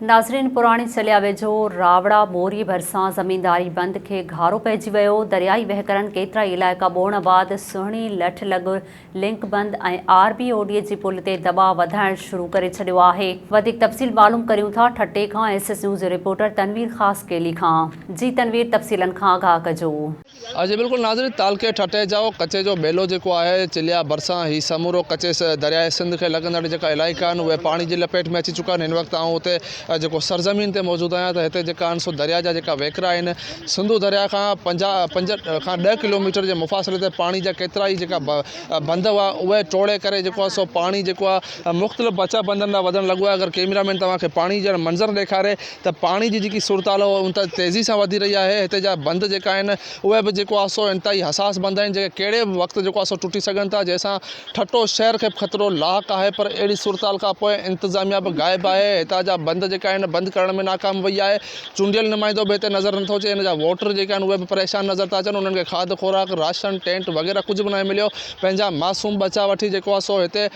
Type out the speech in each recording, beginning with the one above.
ناظرين پراڻي چليا ويجهو راوڙا موري ڀرسان زمينداري بند کي گهارو پئجي ويو، دريائي وهڪرن ڪيترائي علائقا ٻوڙڻ بعد سهڻي، لٺ لڳ، لنڪ بند ۽ آر بي او ڊي جي پل تي دٻاء وڌائڻ شروع ڪري ڇڏيو آهي. وڌيڪ تفصيل معلوم ڪريون ٿا ٺٽي کان ايس ايس نيوز جي رپورٽر تنوير خاصخيلي کان جي تنوير تفصيلن کان آگاهه ڪجو. اڄ بلڪل ناظرين تعلقي ٺٽي جاء ڪچي جو ٻيلو جيڪو آهي چليا ڀرسان هي سمورو ڪچي درياء سنڌ کي لڳندڙ جيڪا علائقا آهن اهي پاڻي جي لپيٽ ۾ اچي چڪا آهن هن وقت آئون هتي جيڪو سرزمين تي موجود آهيان ته هتي جيڪا آهن سو درياء جا جيڪا وهڪرا آهن سنڌو درياء کان پنجاهه پنج کان ڏهه ڪلوميٽر جي مفاصلي تي پاڻي جا ڪيترا ئي جيڪا بند هئا اهي ٽوڙي ڪري جيڪو آهي سو پاڻي جيڪو آهي مختلف بچا بندن ڏانهن وڌڻ لڳو آهي اگر ڪيمرا مين توهان کي پاڻي جا منظر ڏيکاري ته پاڻي جي جيڪي صورتحال اهو انتهائي تيزي سان وڌي رهي آهي هتي جا بند جيڪا آهن اهي به جيڪو آهي سو انتهائي حساس بند آهن جيڪي ڪهڙي به وقت جيڪو آهي سو ٽٽي سگهن ٿا جنهن سان ٺٽو شهر کي به خطرو لاحق آهي پر اهڙي صورتحال کان پوء انتظاميا به غائب آهي هتان جا بند جيڪا آهن بند ڪرڻ ۾ ناڪام وئي آهي چونڊيل نمائندو به هتي نظر نٿو اچي هن جا ووٽر جيڪي آهن اهي به پريشان نظر ٿا اچن انهن کي کاڌ خوراڪ راشن ٽينٽ وغيره ڪجهه به ناهي مليو پنهنجا معصوم ٻچا وٺي جيڪو آهي سو هتي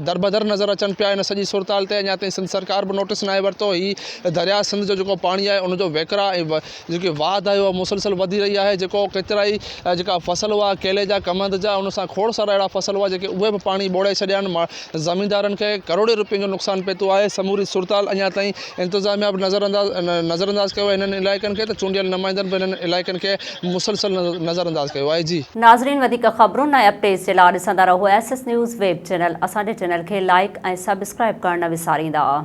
دربدر نظر اچن پيا، ان سڄي صورتحال تي اڃا تائين سنڌ سرڪار به نوٽيس ناهي ورتو، هي درياء سنڌ جو جيڪو پاڻي آهي ان جو وهڪرا ۽ جيڪي واڌ آهي اها مسلسل وڌي رهي آهي، جيڪو ڪيترائي جيڪا فصل هئا ڪيلي جا، ڪمند جا، ان سان کوڙ سارا اهڙا فصل هئا جيڪي اهي به پاڻي ٻوڙائي ڇڏيا آهن، زميندارن کي ڪروڙين روپين جو نقصان پهتو آهي، سموري صورتحال اڃا تائين انتظاميا به نظرانداز ڪيو آهي انهن علائقن کي ته چونڊيل نمائندن به انهن علائقن کي مسلسل نظرانداز ڪيو آهي جي. ناظرين وڌيڪ خبرن ۽ اپڊيٽس جي لا ڏسندا رهو S S news web channel اسان جي چينل کي لائيڪ ۽ سبسڪرائيب ڪرڻ نه وساريندا.